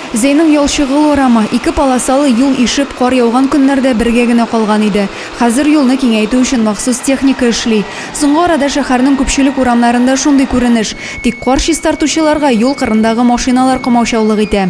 Зәйнең ялчыгыл урамы, ике полосалы юл ишеп, кар яуган көннәрдә бергә генә калган иде. Хәзер юлны киңәйтү өчен махсус техника эшли. Соңгы арада шәһәрнең күпчелек урамнарында шундый күренеш. Тик кар чистартучыларга юл кырындагы машиналар комаучаулык итә.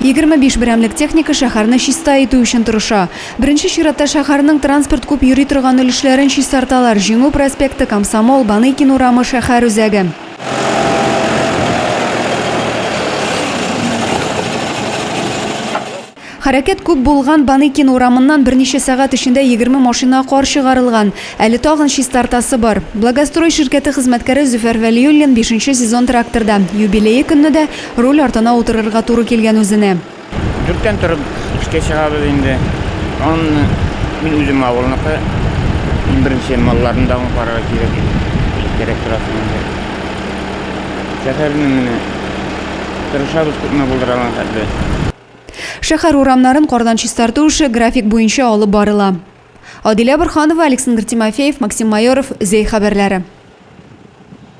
Егерме биш берәмлек техника шәһәрне чиста итү өчен тырыша. Беренче чиратта шәһәрнең транспорт күп йөри торган өлешләрен чистарталар, Җиңү проспекты, Комсомол, Баныкин урамы, шәһәр үзәге. Хәрәкәт күп булган Баныкин урамыннан берничә сәгать эчендә егерме машина кар чыгарылган. Әле тагын чистартасы бар. Благострой ширкәте хезмәткәре Зөфәр Вәлиуллин бишенче сезон тракторда. Юбилее көнне дә Руль артына утырырга туры килгән үзенә. Дүрттән торып эшкә чыгабыз инде. Аннан мин үзем авылныкы, иң беренче малларны да аңа карарга кирәк. Кирәк тора соң инде. Шәһәрне менә тырышабыз күпме булдыра алган хәтле. Шәһәр урамнарын кардан чистарту эше график буенча алып барыла. Адилә Борһанова, Александр Тимофеев, Максим Майоров, Зәй хәбәрләре.